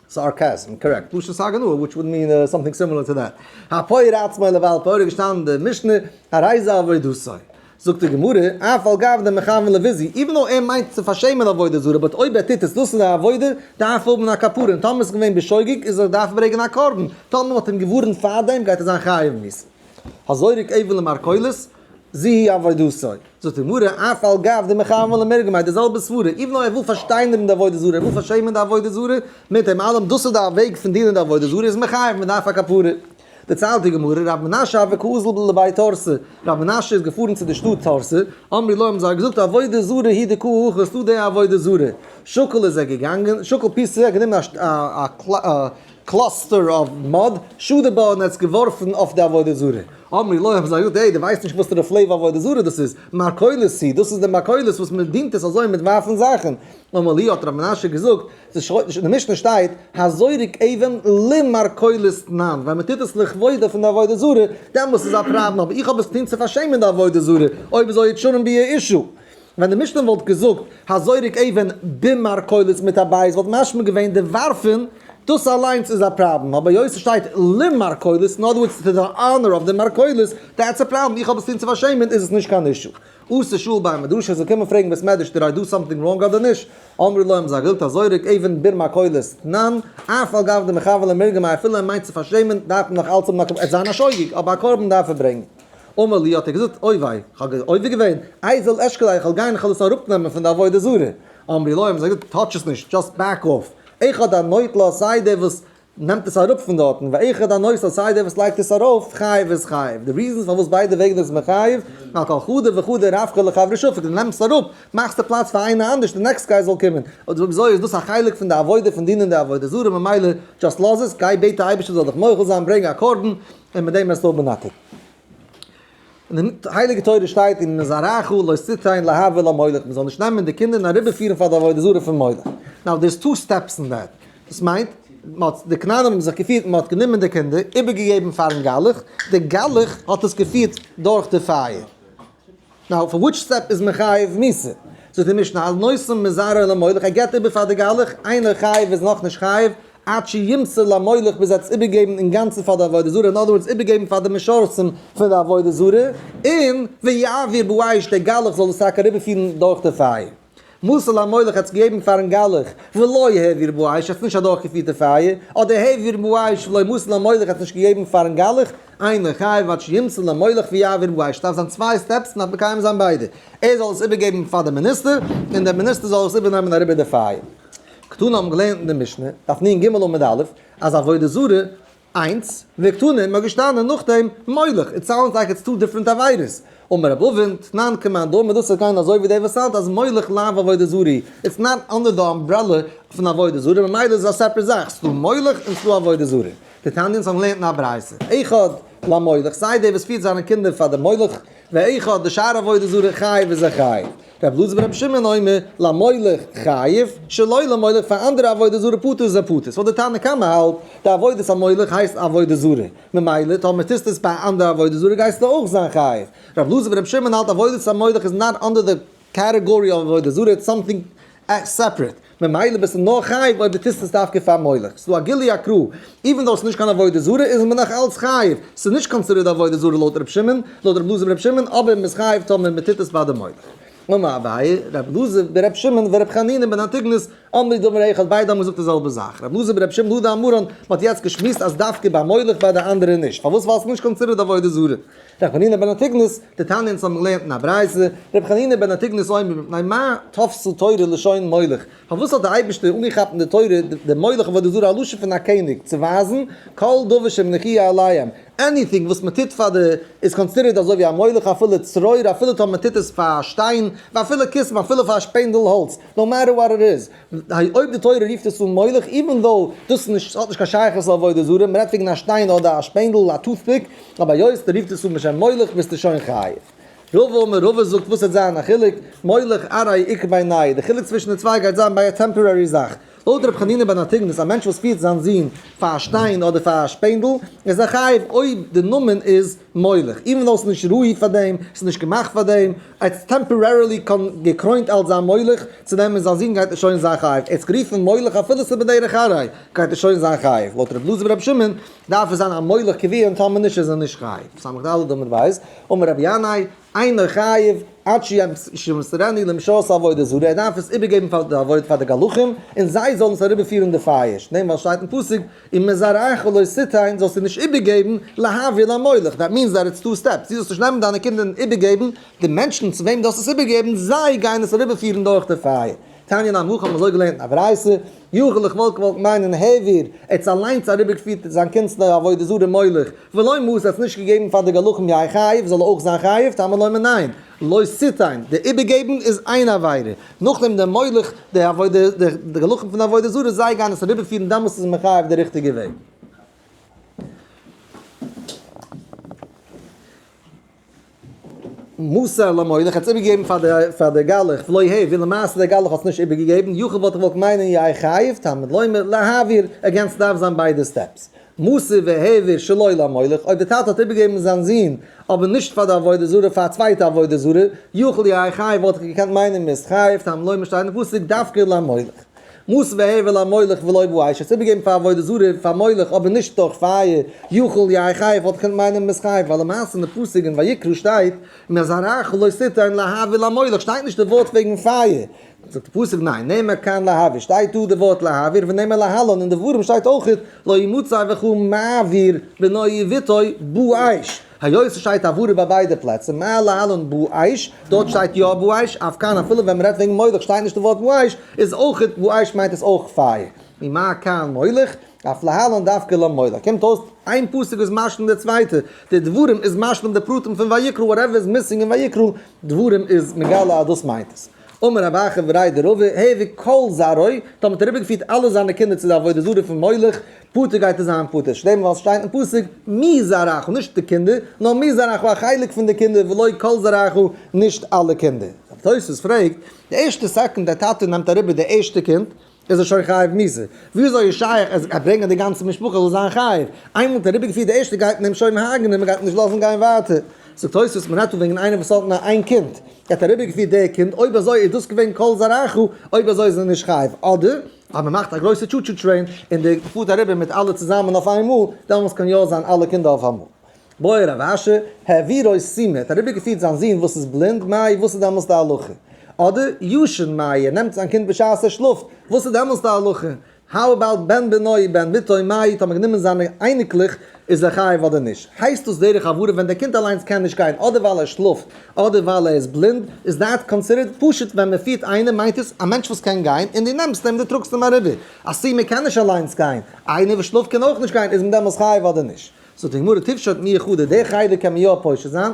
סארקעזם, קארעקט, בלשון סארגענאר וויטש וואלד מין סאמטינג סימילער טו דעט. הפויער עצמו לבעל פויער איז געשטאנען אין די משנה, הרי זה עבודתו. זאגט די גמרא, אף על גב דעם מכוון לוויזי, איווען דאו ער מיינט צו פארשעמען עבודה זרה, באט אויב ער טוט עס דאס איז א עבודה, דארף ער האבן א כפרה, און טאמער איז געווען בשוגג איז ער דארף ברעגן א קרבן, טאמער מען האט אים געווארענט פארדעם גייט ער זיין חייב מיתה. הזורק אבן למרכולת, זי היא עבודה זרה. זאגט די גמרא, אף על גב דעם מכוון למרגמה, די זעלבע סברא, איווען דאו ער וויל פארשטיינערן די עבודה זרה, ער וויל פארשעמען די עבודה זרה, מיט דעם אלעם דאס איז די וועג פון דינען די עבודה זרה, איז מען חייב, מען דארף א כפרה. דערציילט די גמרא, רבי מנשה אבד ק ז ל לבית תרסה, רבי מנשה איז געפארן צו די שטאט תרסה, אמרי לו האבן זיי געזאגט עבודה זרה היא די ק ה האסט דא די עבודה זרה, שקל איז ער געגאנגען, שקל פיס צו ער האט גענומען א קלאסטער אוו מאד, שדה בה און ער האט עס געווארפן אויף די עבודה זרה, אמרי לו האבן זיי געזאגט העי די ווייסט נישט וואסערע פלעוו עבודה זרה דאס איז, מרכולת היא, דאס איז די מרכולת וואס מען דינט עס אזוי מיט ווארפן זאכן, אמר לי האט רבי מנשה געזאגט, אין די משנה שטייט הזורק אבן למרכולת ניין ווען מען טוט עס לכבודה פון די עבודה זרה דעמאלס איז א פראבלעם אבער איך האב עס טון צו פארשעמען די עבודה זרה אויב איז אויך שנים ביה אישו ווען די משנה וואלט געזאגט הזורק אבן במרכולת מיט א בית וואלט משמע געווען די ווארפען דאס אליינס איז א פראבלעם אבער היות עס שטייט למרכולת אין אדער ווארדס טו די אנער אוו די מרכולת דעטס א פראבלעם איך האב עס טון צו פארשעמען איז עס נישט קיין אישו. עשה שאול ביי א מדרש איז געקומען פרעגן בית מדרש דיד איי דא סאמטינג ראנג אדער נישט, אמרו לו האבן זיי אגילת הזורק עיווען ביר מקהלות נאן, אף על גב די מכוון למרגמה אפילו ער מיינט צו פארשעמען דארף מען נאך אלץ האבן א קרבן ער זיין א שוגג אבער א קרבן דארף ער ברענגן, אמר לי האט ער געזאגט אוי וויי כ'האב עובר געווען איי זל אשכול איי כ'וועל גיין כ'וועל עס אראפ נעמען פון די עבודה זרה, אמרי לו האבן זיי געזאגט טאטש עס נישט דשאסט בעק אף, עכא דאן נויט לא סיידע וואס נעמט עס אראפ פון דארטן, ואחד הנושא סיי דער וואס לייגט עס ארויף חייב איז חייב, די ריזענס פארוואס ביידע וועגן איז מחייב, על כל חדה וחדה רבקה לחברה שופכת, ווען נעמסט אראפ מאכסטו פלאץ פאר איינער אנדערש די נעקסט גיי זאל קומען, אדער אזוי איז דאס א חלק פון די עבודה פון דינען די עבודה זרה ממילא דזשאסט לאז עס, גיי בעט די אייבערשטער זאל דיך מוחל זיין ברענג א קרבן און מיט דעם וועסטו האבן אן עתיד. אין די הייליגע תורה שטייט אין זרעך לא שטתיין להבל המולך מען זאל נישט נעמען די קינדער און אריבערפירן פאר די עבודה זרה פון מולך, נאו דער איז טו סטעפס אין דעט, דאס מיינט די כנענים האבן זיך געפירט מען האט גענומען די קינדער איבערגעגעבן פארן גלח, די גלח האט עס געפירט דורך די פייער, נאו פאר וויטש סטעפ איז מען חייב מיתה? זאגט די משנה על נושא מזרע למולך ער געבט איבער פאר די גלח איינער חייב איז נאכנישט חייב? עד שימסור למולך ביז ער האט עס איבערגעגעבן אינגאנצן פאר די עבודה זרה, אין אנדער ווארטס איבערגעגעבן פאר די משרתים פון די עבודה זרה, און ויעביר באש דער גלח זאל עס טאקע אריבערפירן דורך די פייער. מסר למולך ער האט עס געגעבן פארן גלח, ולא העביר באש ער האט עס נישט אדורכגעפירט אין פייער, אדער העביר באש ולא מסר למולך ער האט עס נישט געגעבן פארן גלח, איינער חייב עד שימסור למולך ויעביר באש, עס דארף זיין צוויי סטעפס און מען דארף מקיים זיין ביידע, ער זאל עס איבערגעבן פאר די מיניסטער, און דער מיניסטער זאל עס איבערנעמען אריבער די פייער. קטנים האבן געלערנט אין די משנה, דף נ ג עמוד א', אז עבודה זרה, איינס, וקטנים איז געשטאנען נאכדעם מולך, איט סאונדס לייק איטס טו דיפרענט עבירות. אמר רב אבן, תנן כמאן דאמר דאס איז גיין אזוי ווי דער וואס האלט אז מולך לאו עבודה זרה, איטס נאט אנדער די אמברעלע פון עבודה זרה, ממילא איז עס א סעפרעט זאך, ס'איז דא מולך און ס'איז דא עבודה זרה. די תניא'ס האבן געלערנט אין א ברייתא, אחד למולך, סיי דער וואס פירט זיינע קינדער פאר די מולך, ואיכא דשאר עבודה זרה חייב איז ער חייב. רב אלעזר בן רבי שמעון אומר, למולך חייב, שלא למולך פאר אנדערע עבודה זרה פטור איז ער פטור. ס'איז פאר די תנא קמא האלט, די עבודת המולך הייסט עבודה זרה. ממילא טאמער טוסט עס ביי א אנדערע עבודה זרה גייסטו אויך זיין חייב. רב אלעזר בן רבי שמעון האלט עבודת המולך איז נאר אנדער די. קאטעגארי אויף עבודה זרה איז סאמטינג סעפערעט, ממילא ביסטו נאר חייב אויב די טוסט עס דווקא פאר מולך, ס'איז דא א גילוי הקראה, איווען דאו עס איז נישט קיין עבודה זרה איז מען נאך אלץ חייב, ס'איז נישט קאנסידערעד עבודה זרה לויט רבי שמעון, לויט רבי אלעזר ורבי שמעון, אבער מ'איז חייב טאמער מ'טוט עס פאר די מולך. אמר אביי, רבי אלעזר ברבי שמעון ורבי חנינא בן אנטיגנוס אמרי דאמרי אחד ביידע האבן געזאגט די זעלבע זאך, רבי אלעזר ברבי שמעון הודה אמרן, מ'האט יעצט געשמועסט אז דווקא ביי מולך ביי די אנדערע נישט, פארוואס ווייל ס'איז נישט קאנסידערעד עבודה זרה. ר' חנינא בן אנטיגנוס, די תניא אונז האבן געלערנט אין א ברייתא, ר' חנינא בן אנטיגנוס אומר מפני מה תפסו תורה לשון מולך, פארוואס האט די אייבערשטער אנגעכאפט אין די תורה די מולך עבודה זרה א לשון פון א קעניג, צו ווייזן, כל דבר שמלכי' עליהם, עניטינג וואס מען טוט פאר די איז קאנסידערט אזוי ווי א מולך אפילו צרור אפילו טאמער מען טוט עס פאר א שטיין, ואפילו כסף אפילו פאר א שפענדל האלץ, נאו מעטער וואט איט איז, ודאי אויב די תורה רופט עס אן מולך, איווען דאו דאס איז האט נישט קיין שייכות צו עבודה זרה, מען רעדט וועגן א שטיין אדער א שפענדל, א טוטפיק, אבער היות די רופט עס אן בשם מולך ביסטו שוין חייב. רבא אמר רבא זאגט וואס העט זיין א חילוק, מולך ארי' איכא ביי ני', די חילוק צווישן די צוויי גייט זיין ביי א טעמפארערי זאך, לויט ר' חנינא בן התגנז א מענטש וואס פירט זיין זון פאר א שטיין אדער פאר א שפענדל איז ער חייב אויב די נאמען איז מויליך, איווען דאו עס איז נישט ראוי פאר דעם, עס איז נישט געמאכט פאר דעם, עטס טעמפארערילי געקרוינט אלס זיין מוליך, צו נעמען זיין זון גייט ער שוין זיין חייב, ער האט זיך גערופן מוליך אפילו עס איז בדרך ארעי, גייט ער שוין זיין חייב, לויט רבי אלעזר ורבי שמעון דארף ער זיין א מוליך קביע און טאמער נישט איז ער נישט חייב, סמך ד' אמר ווייס, אמר רבי ינאי. איינער חייב עד שימסרני למשה'ס עבודות ה', ער דארף עס איבערגעבן פאר די עבודה פאר די גלחים, און זיי זאלן עס אריבערפירן די פייערשט, דעם ווייל שטייט אין פסוק, אם מזרעיך לא תיתן, זאלסטו נישט איבערגעבן, להעביר למולך, דעט מינס דעט איטס טו סטעפס, דו זאלסט נישט נעמען דיינע קינדער און איבערגעבן, די מענטשן צו וועם דו האסט עס איבערגעגעבן, זיי גייען עס אריבערפירן דורך די פייער. תניא נ עמך האט מען אזוי געלערנט אין א ברייתא. יאכל איך וואלט געוואלט מיינען העביר עטס אליינס אריבערגעפירט זיין קינדס די עבודה זרה מוליך ולא מות עטס נישט געגעבן פאר די גלחים יין חייב זאל ער אויך זיין חייב טעמא לומר ניין לא סיטיין די איבערגעבן איז איין עבירה נאכדעם די מוליך די עבודה די גלחים פון די עבודה זרה זיי גייען עס אריבערפירן דעמאלטס איז מען חייב די ריכטיגע וועג. מוסר למולך, ער האט עס איבערגעגעבן פאר די גלח ולא ה', ווי למעשה דער גלח האט עס נישט איבערגעגעבן, יחי וואלט איך געוואלט מיינען יא ער חייב, תלמוד לומר להעביר, עגעין ס'דארף זיין ביידע סטעפס, מוסר והעביר שלא למולך, אויב דער טאטע האט איבערגעגעבן זיין זון אבער נישט פאר די עבודה זרה פאר א צווייטע עבודה זרה, יחי יא ער חייב וואלט איך געקענט מיינען מ'איז חייב, תלמוד לומר שטייט אין פסוק דווקא למולך. מות והבל המולך ולא יבא האש, עס איבערגעבן פאר עבודה זרה פאר מולך אבער נישט דורך פייער, יאכל יין חי וואלט געקענט מיינען מות חי, ווייל למעשה אין די פסוק אין ויקרא שטייט מי זרעך לא תתן להבל המולך שטייט נישט די ווארט וועגן פייער, זאגט די פסוק ניין נאמר כאן להעביר שטייט דא די ווארט להעביר ונאמר להלן אין די ווארים שטייט אויכעט לא ימצא וכו' מעביר בנוי יביתו בו אש, היות ס'שטייט הברה ביי ביידע פלעצער, מעל להלן בואש, דארט שטייט יא בואש, אויף כאן אפילו ווען מ'רעדט וועגן מולך שטייט נישט די ווארט בואש, איז אויך איז בואש מיינט עס אויך פייער. ממה כאן מולך, אויף להלן דווקא לא מולך. קומט אויס איין פסוק איז משלים די צווייטע, די דברים איז משלים די פרטים פון ויקרא, וואטעווער איז מיסינג אין ויקרא, דברים איז מגלה אז דאס מיינט עס. אמר רבי אחא ורעי דרבי העביר כל זרעו, טאמער האט ער אריבערגעפירט אלע זיינע קינדער צו די עבודה זרה פון מולך, פטור גייט ער זיין פטור, נישט דעם ווייל עס שטייט אין פסוק מי זרעך נישט די קינדער, נאר מי זרעך א חלק פון די קינדער ולא כל זרעך נישט אלע קינדער. תוספות פרעגט, די ערשטע סעקאנד די טאטע נעמט אריבער די ערשטע קינד, איז ער שוין חייב מיתה? וויאזוי איז שייך ער זאל ברענגען די גאנצע משפחה זאל זיין חייב? איינמאל מ'האט אריבערגעפירט די ערשטע גייט מען אים שוין הרג'נען און מ'גייט נישט לאזן גיין ווייטער. זאגט תוספות מ'רעדט דא וועגן איינער וואס האט נאר איין קינד, ער האט אריבערגעפירט דער קינד, אויב אזוי איז דאס געווען כל זרעך, אויב אזוי איז ער נישט חייב, אדער? אז מ'מאכט א גרויסע טשו טשו טרעין און די פארט אריבער מיט אלע צוזאמען אויפאיינמאל, דעמאלס קען יא זיין אלע קינדער אויפאיינמאל. מוה רב אשר, העביר אויס צו מיר, האט אריבערגעפירט זיין זון וואס איז בלינד, מאיר, וואס איז דעמאלס די הלכה? אדער, ישן מאיר, נעמט זיין קינד בשעת ער שלאפט, וואס איז דעמאלס די הלכה? האו אבאוט בן בנו, בן בתו, מאיר, טאמער גענומען זיינע אייניקלעך, איז ער חייב אדער נישט? הייסט דאס דרך עברה ווען דער קינד אליינס קען נישט גיין אדער ווייל ער שלאפט אדער ווייל ער איז בלינד, איז דעט קאנסידערט פשוט ווען מען פירט איינעם מיינט עס א מענטש וואס קען גיין און דו נעמסט אים דו טראגסט אים אריבער, א סומא קען נישט אליינס גיין, איינער וואס שלאפט קען אויך נישט גיין, איז מען דעמאלס חייב אדער נישט? זאגט די גמרא תפשוט מי יחודה, די חדר קען מען יא פושט זיין,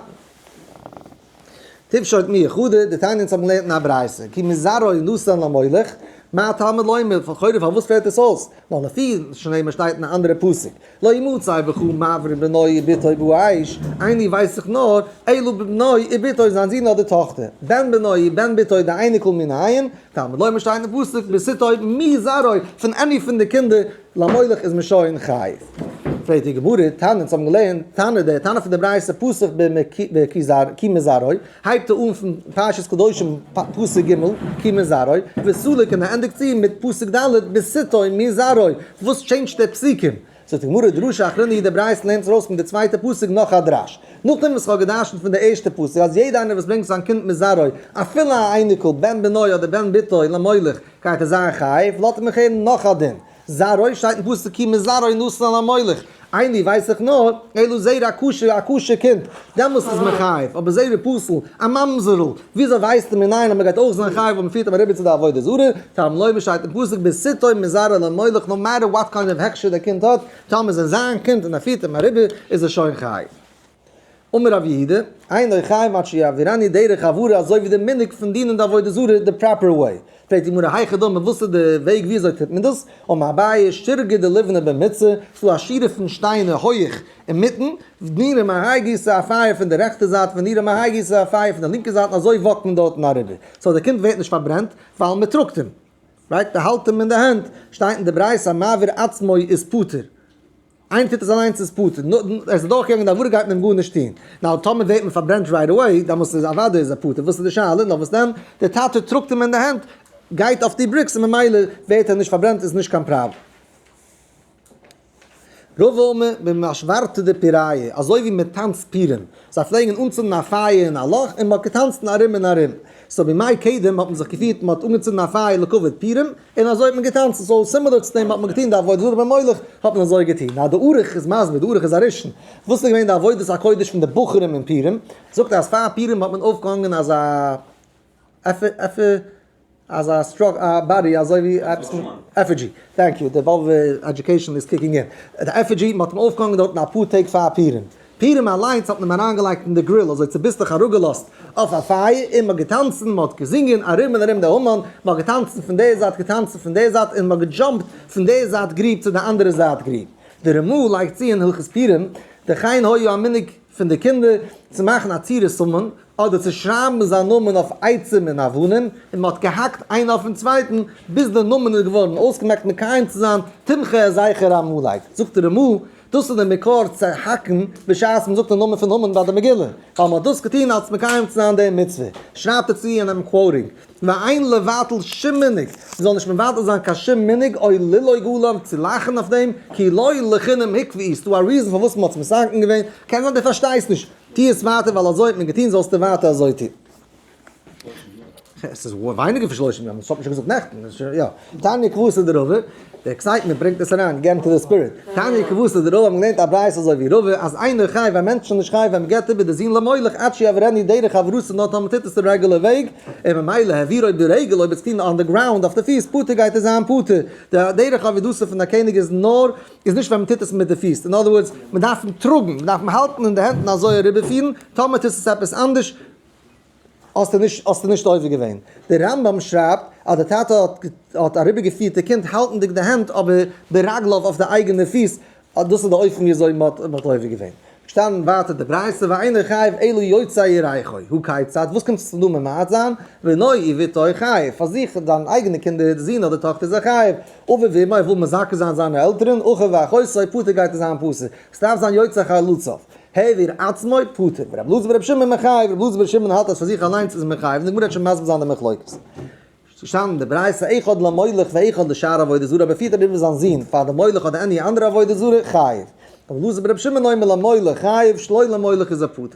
תפשוט מי יחודה, די תניא אונז האבן געלערנט אין א ברייתא, כי מזרעו נשא למולך, מה התלמוד לומר, לכאורה פארוואס פעלט עס אויס, ווייל לפי שנאמר שטייט אין א אנדערע פסוק, לא ימוצא וכו' מעברי בנו איבתו באש, עיני ווייס זיך נאר, אילו בבנו איבתו זיין זון אדער טאכטער, בן בנו איב בן בתו די אייניקל מן העין, תלמוד לומר שטייט אין פסוק בסיתו מי זרעו פון עני פון די קינדער למולך איז מען שוין חייב. פרעגט די גמרא תנא אונז האבן געלערנט תנא די תנא פון די ברייתא פסוק ב מ כי מזרעו הייבט ער אן פון פרשת קדושים פסוק ג כי מזרעו וסלק און ער ענדיגט צו מיט פסוק ד בסיתו מי זרעו וואס טשעינדזשט די פסוקים זאגט די גמרא דרשה אחרונה יעדע ברייתא נעמט ארויס פון די צווייטע פסוק נאך א דרש, נאכדעם וואס איך האב גע'דרש'נט פון די ערשטע פסוק אז יעדע איינער וואס ברענגט זיין קינד מזרעו, אפילו א אייניקל, בן בנו אדער בן בתו, למולך, גייט ער זיין חייב, לאט מיך הערן נאך א דין, זרעו שטייט אין פסוק כי מזרעו נשא למולך, עיני ווייס איך נאר, אילו זרע א כשר, א כשר קינד, דעמאלס איז מען חייב, אבער זרע פסול, א ממזר'ל, וויאזוי ווייסטו מנין אז מ'גייט אויך זיין חייב אויב מ'פירט אויף א רבי צו די עבודה זרה? טעם לוי ווי שטייט אין פסוק בעשיתו מזרע לעמלך נאו מעטער וואט קיינד אוו הכשר דער קינד האט, טאמער איז ער זיין קינד און ער פירט אים א רבי איז ער שוין חייב. אמר רב יהודה, אינו חייב עד שיעבירני דרך עברה אזוי ווי די מנהג פון דינען די עבודה זרה די פראפער וועי. פרעגט די גמרא היכי דמי וואס איז די וועג וויאזוי טוט מען דאס? אמר אביי שטרגא דלבנה במצר, ס'דא א שירעפן שטיינער הויעך אינמיטן, ונראה מהאי גיסא א פייער פון די רעכטע זייט, ונראה מהאי גיסא א פייער פון די לינקע זייט, און אזוי וואקט מען דארטן אריבער. סאו די קינד ווערט נישט פארברענט, ווייל מען טראגט אים. רייט? מען האלט אים אין די הענט. שטייט אין די ברייתא, מעביר עצמו איז פטור. איינער טוט עס אליינס איז פטור. נאר ער איז אדורכגעגאנגען די עבירה גייט מען אים גארנישט טון. נאר טאמער ווערט מען פארברענט רייט עוועי, דעמאלטס איז אוודאי איז ער פטור. וואס איז די שאלה? נאר וואס דען? דער טאטע טראגט אים אין די הענט, גייט אויף די בריקס, און ממילא ווערט ער נישט פארברענט, איז נישט קיין פראבלעם. ר' וואלמער, ווען מען שווארצט די פיראיע, אזוי ווי מען טאנצט פירעם, זיי פלעגן אנצינדן א פייער אין א לאך און מען האט געטאנצן ארום און ארום, סאו בימי קדם האט מען זיך געפירט מען האט אנגעצינדן א פייער לכבוד פירעם און אזוי האט מען געטאנצן, סאו סימילער צו דעם האט מען געטון די עבודה זרה ביי מולך האט מען אזוי געטון. נאר די ארוך איז מסביר, די ארוך איז א ראשון, וואס איז געווען די עבודת הקודש פון די בחורים אין פירעם, זאגט ער אז פאר פירעם האט מען אויפגעהאנגען אזא עפר עפר. אז א סטראק א באדי אזוי ווי עפעס מיט עפידזשי טענק יו די וואלוו עדיוקעישאן איז קיקינג אין די עפידזשי מען האט אים אויפגעהאנגען דארטן אפאר טעג פאר פורים פורים אליינס האט מען אים אריינגעלייגט אין די גריל אזוי צוביסלעך אראפגעלאזט אויף א פייער און מען האט געטאנצן מען האט געזינגען ארום און ארום די המון מען האט געטאנצן פון די זייט געטאנצן פון די זייט און מען האט געדזשאמפט פון די זייט גריב צו די אנדערע זייט גריב די רמא לייגט צו אין הלכות פורים דכאין הוי ה א מנהג פון די קינדער צו מאכן א צירית סמן אדער צו שרייבן זיין נאמען אויף עצים און אבנים, און מען האט געהאקט איינער אויפן צווייטן ביז דער נאמען איז געווארן אויסגעמאכט מקיים צו זיין תומכי הזכר העמלק, זאגט דער רמא, דאס איז דער מקור צו האקן בשעת מען זאגט דעם נאמען פון המן ביי די מגילה, ווייל מען האט דאס געטון אלס מקיים צו זיין דעם מצוה, שרייבט ער צו אינעם קוואוטינג. ואין לבטל שום מנהג, מ'זאל נישט מבטל זיין קיין שום מנהג, אוי לילוי גולם, צו לאכן אויף דעם, כי לא לחינם הקפיא, איז דא א ריזאן פארוואס מ'האט עס מסכן געווען, קען זיין דו פארשטייסט נישט, טוה עס ווייטער ווייל אזוי האט מען געטון, זאלסטו ווייטער אזוי טון. עס איז ווייניגער פון שלושים יום, עס האט מען שוין געזאגט נעכטן, יא, תניא כבוסה דרבה, די עקסייטמענט ברענגט עס אריין, געט אינטו די ספיריט. תניא כבוסתא די רוב האבן געלערנט א ברייתא אזוי ווי רבא אז איינער חי ווען מענטשן זענען נישט חי ווען מ'געט איבער די זון למולך עד שיעבור עני דרך עברותא נאר טאמער מ'טוט עס די רעגולער וועג און ממילא העביר אויב די רגל אויב איז טון אן די גראונד אויף די פיס פטור גייט ער זיין פטור די דרך עבודתו פון א קעניג איז נאר איז נישט ווען מ'טוט עס מיט די פיס אין אדער ווארדס מ'דארף אים טראגן מ'דארף אים האלטן אין די הענט און אזוי אריבערפירן טאמער טוסט עס עפעס אנדערש האסטו נישט האסטו נישט עובר געווען. דער רמב ם שרייבט אז דער טאטע האט אריבערגעפירט די קינד האלטנדיג די הענט אבער ברגליו אויף די אייגענע פיס, אז דאס איז די אופן ווי אזוי מען האט עובר געווען. פארשטאנען ווייטער די ברייתא ואינו חייב אלא יוצא ירחו, הוא כיצד? וואס קומט צו דא ממעט זיין? בני ובתו חייב, פאר זיך און זיינע אייגענע קינדער, זון אדער טאכטער זיי חייב, אביו ואמו ער וויל מזכה זיין זיינע עלטערן, אחיו ואחותו, פאטער גייט ער זיין פטור, עס דארף זיין יוצא חלוציו. העביר עצמו פטור, ורב לוזי ורב שמעון מחייב, רב לוזי ורב שמעון האלט אז פאר זיך אליינס איז מען חייב, און די גמרא וועט שוין מסביר זיין די מחלוקת. נישט פארשטאנען אין די ברייתא אחד למולך ואחד לשאר עבודה זרה, אבער פירט ער איבער זיין זון פאר די מולך אדער עני אנדערע עבודה זרה, חייב. רב לוזי ברב שמעון אומר למולך חייב, שלא למולך איז ער פטור.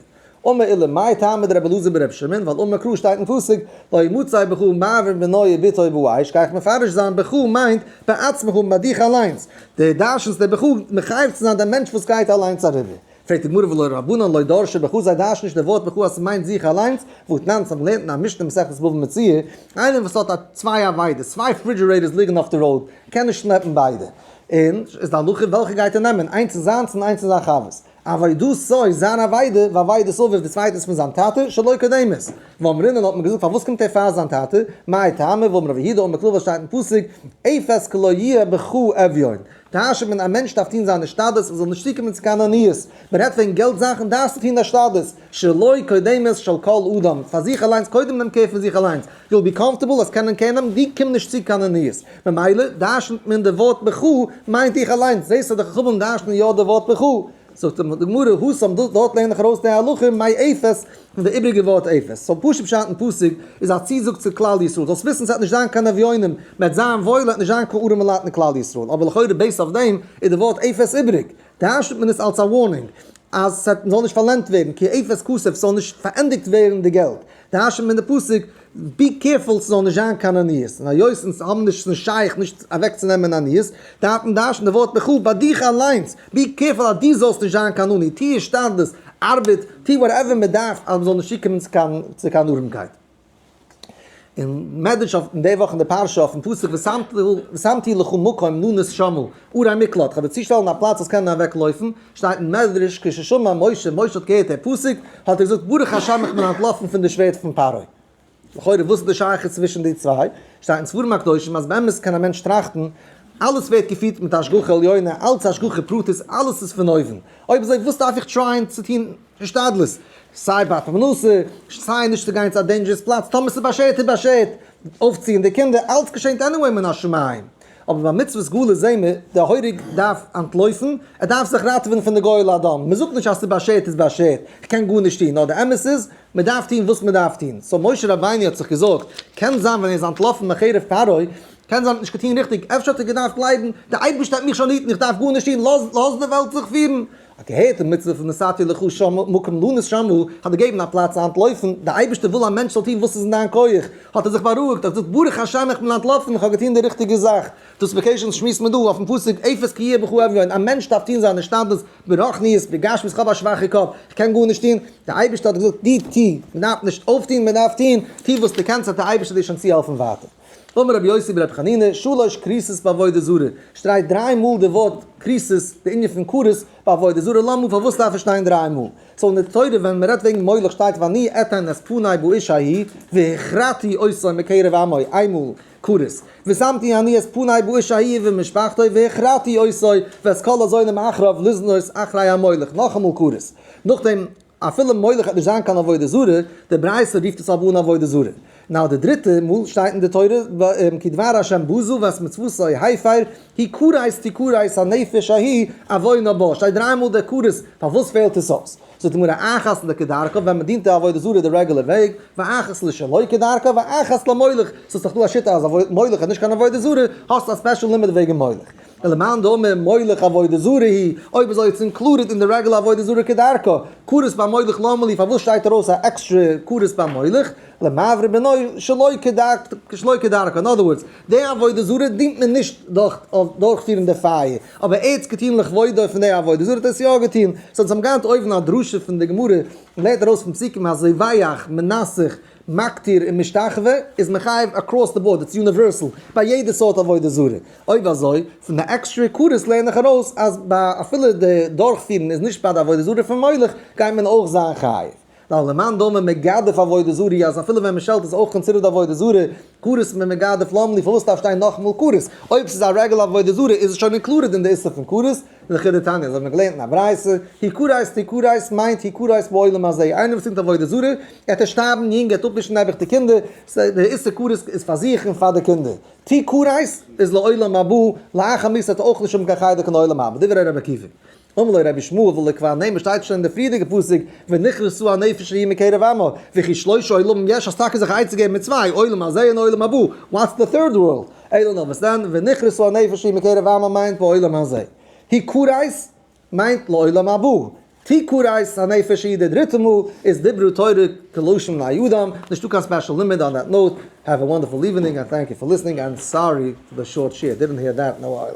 אמר אילן מאי טעמא דרבי לוזי ברב שמעון, ווייל אמר קרא שטייט אין פסוק לא ימצא בך מעבר בנוי ביתו ובואיש, גיי איך מפרש זיין בך מיינט בעצמך מיט דיך אליינס, דער דרש איז דער בחור מחייב צו זיין דעם מענטש וואס גייט אליינס אריבער? פרעגט די גמרא ולא רבנן לא דרשו בחור זיי דרשן נישט דער ווארט בחור אז ס'מיינט זיך אליינס, ואתנן צו האבן געלערנט אין א משנה מסכת בבא מציעא, איינער וואס האט א צוויי עבידות, צוויי פרידזשירעיטערס ליגן אויף די ראוד, קען נישט שלעפן ביידע, און איז די הלכה וועלכע גייט ער נעמען, איינס אין זיינס און איינס אין זיין חבר'ס? אווי דאס סאיז זיין אבידה ואווי דאס אויף איז די צווייטענס פון זיין טאטע שלא כדומת ואמרינן האט מען געזאגט פארוואס קומט ער פאר זיין טאטע מאי טעמא ואמר רבי יהודה אמר כלל וואס שטייט אין פסוק אפס כלא יהיה בך אביון טאהשעט מען א מענטש דארף טוהן זיין השתדלות ער זאל נישט צוקומען צו קיין עניות מען רעדט וועגן געלט זאכן דארפסטו טוהן השתדלות. שלא קודמת של כל אדם, פאר זיך אליינס, קודם נעם קעיר פון זיך אליינס, יו וויל בי קאמפארטעבל אז קיינער קעיר נעמט דיר, קום נישט צו קיין עניות, ממילא דרשנ'ט מען די ווארט בע ח מיינט איך אליינס, זעסט אז די חכמים דרשנ'ען יא די ווארט בע ח, זאגט אים די גמרא הא סמ ד, דארט לערן איך ארויס די הלכה מאי עפעס פון די איבריגע ווארט עפעס, סאו פשוט פשט אין פסוק איז א צוזאג צו כלל ישראל, זאלסט וויסן ס'עט נישט זיין קיין אביונים, מ'עט זיין וואויל, עט נישט זיין קיין ארעמע לייט אין כלל ישראל, אבער לכאורה בעיסד אויף דעם איז די ווארט עפעס איבריג, טייטשט מען עס אלס א ווארנינג אז עס וועט זאל נישט פארלענדט ווערן כי אפס כסף ס'זאל נישט פארענדיגט ווערן די געלט, טייטשט מען די פסוק בי קערפול ס'זאל נישט זיין קיין עניות, און היות אונז האבן נישט ס'נישט שייך נישט אוועק צו נעמען עניות, דארף מען טייטשן די ווארט בך ביי דיך אליינס, בי קערפול אז דו זאלסט נישט זיין קיין עני, טוה השתדלות, ארבעט, טוה וואטעווער מען דארף אז מען זאל נישט צוקומען צו קיין ארעמקייט. אין מדרש אויף אין די וואך אין די פרשה אויפן פסוק ושמתי לך מקום נאנוס שמה אור המקלט כדי צו שטעלן א פלאץ זאלסט קענען אוועק לויפן שטייט אין מדרש כששמע משה משה האט געהערט די פסוק האט ער געזאגט ברוך השם איך בין אנטלאפן פון די שווערד פון פרעה. לכאורה וואס איז די שייכות צווישן די צוויי? שטייט אין ספרים הקדושים אז באמת קען א מענטש טראכטן אלעס ווערט געפירט מיט השגחה עליונה אלץ השגחה פרטית אלעס איז פון אויבן אויב אזוי וואס דארף איך טרייען צו טון השתדלות, סיי ביי פרנסה, סיי נישט צו גיין צו א דעינדזשערעס פלאץ, טאמער ס'איז באשערט איז באשערט, אויפציען די קינדער, אלץ געשענט עניוועי מן השמים, אבער ביי מצוות סגולה זעהן מיר, דער הורג דארף אנטלויפן, ער דארף זיך ראטעווען פון די גואל האדום, מען זאגט נישט אז ס'איז באשערט איז באשערט, כ'קען גארנישט טון, נאר די אמת איז, מען דארף טון וואס מען דארף טון, סאו משה רבינו האט זיך געזארגט, קען זיין ווען ער איז אנטלאפן מחרב פרעה, קען זיין ער האט נישט געטון ריכטיג, אפשר האט ער געדארפט גלייבן, דער אייבערשטער האט מיך שליט און איך דארף גארנישט טון, לאז די וועלט זיך פירן, א געהערטע מצוה פון נסעתי לך שם מקום לא נשמעו, כ'האב דיר געגעבן א פלאץ צו אנטלויפן, דער אייבערשטער וויל א מענטש זאל טון וואס איז אין דיין כח, האט ער זיך בארואיגט, האט געזאגט ברוך השם איך בין אנטלאפן, איך האב געטון די ריכטיגע זאך. דאס וועקעישאן שמועסט מען דא אויפן פסוק עפעס כי יהיה בך אביון, א מענטש דארף טון זיין השתדלות ברוחניות, בגשמיות, כ'האב א שוואכע קאפ, כ'קען גארנישט טון, דער אייבערשטער האט געזאגט דו טו, מען דארף נישט אויפטון, מען דארף טון, טו וואס דו קענסט וועט דער אייבערשטער דיר שוין צוהעלפן ווייטער. אמר רבי יוסי ברבי חנינא, שלש כריתות בעבודה זרה, שטרייט דריי מאל די ווארט כריתות, די ענין פון כרות ביי עבודה זרה, למה, פארוואס דארף עס שטיין דריי מאל? סאו אין די תורה ווען מען רעדט וועגן מולך שטייט ואני אתן את פני באש ההיא והכרתי אותו מקרב עמו, איין מאל כרות, ושמתי אני את פני באש ההיא ומשפחתו והכרתי אותו ואת כל הזונים אחריו לזנות אחרי המולך, נאכאמאל כרות, נאכדעם. אפילו מולך וועט נישט זיין קיין עבודה זרה, די ברייתא רופט עס אבער אן עבודה זרה. נאו די דריטע מאל שטייט אין די תורה כי דבר השם בזו ואת מצוותו הפר היא כרת תכרת הנפש ההיא עוונה בה שטייט דריי מאל די כרת פארוואס פעלט עס אויס? זאגט די גמרא אחת לא כדרכה ווען מען דינט די עבודה זרה די רעגולער וועג ואחת לא שלא כדרכה ואחת למולך ס'איז דאך דא א שיטה אז מולך איז נישט קיין עבודה זרה האסט א ספעשל לימוד וועגן מולך ולמאן דאמר מוליך עבודה זרה היא, אויב איז אויך אינקלודעד אין די רעגולער עבודה זרה כדרכו, כרת ביי מוליך למה לי פארוואס שטייט ארויס א עקסטרע כרת ביי מוליך, למעברי בנוי שלא שלא כדרכו, אין אדער ווארדס, די עבודה זרה דינט מען נישט דורך דורכפירן די פייער, אבער ער האט עס געטון לכבודו פון די עבודה זרה האט ער עס יא געטון, סא אונז האבן געהאט אויבן א דרשה פון די גמרא, מען לערנט ארויס פון פסוקים אז זיי ווייעך מנסך מקטיר און משתחווה איז מחייב אקראס די באורד, איטס יוניווערסעל ביי יעדע סארט עבודה זרה, אויב אזוי פון די עקסטרע קורס לערן איך ארויס אז ביי אפילו די דורכפירן איז נישט ביי די עבודה זרה פון מולך גייט מען אויך זיין חייב, ווייל למאן דאמר מגדף עבודה זרה אז אפילו ווען מען שעלט איז אויך קאנסידערט עבודה זרה, כרת מיט מגדף לאמלי פארוואס דארף שטיין נאכמאל כרת? אויב ס'איז א רגל עבודה זרה איז עס שוין אינקלודעד אין די איסור פון כרת? אין חידא תניא האבן מיר געלערנט אין א ברייתא, היא כרית היא כרית מיינט היא כרית בעולם הזה, איינער וואס טוט עבודה זרה, ער העט נישט שטארבן יונג, ער העט אפווישן נעבעך די קינדער, ס'הייסט די איסור כרת איז פאר זיך און פאר די קינדער, תהי' כרית איז לעולם הבא, לאחר מות העט ער אויך נישט האבן קיין חלק אין עולם הבא, דברי ר' עקיבא. אמר לו רבי שמואל ולקבוע נעים עס שטייט שוין אין די פריערדיגע פסוק ונכרסו הנפש ההיא מקרב עמו, וכי שלושה עולמים יש אז טאקע זיך עצה געבן מיט צוויי, עולם הזה און עולם הבא, וואטס די טירד ווארלד? אלא נאר וואס דען, ונכרסו הנפש ההיא מקרב עמו מיינט בעולם הזה. הי כרית מיינט לעולם הבא. תהי כרית הנפש ההיא די דריטע מאל איז דיברו תורה כלשון בני אדם, נישטא קיין ספעשל לימוד אן דעט נאוט, העוו א וואנדערפול איווענינג ענד טענק יו פאר ליסענינג ענד סארי פאר די שארט שער, דידענט העיר דעט נאו אייל.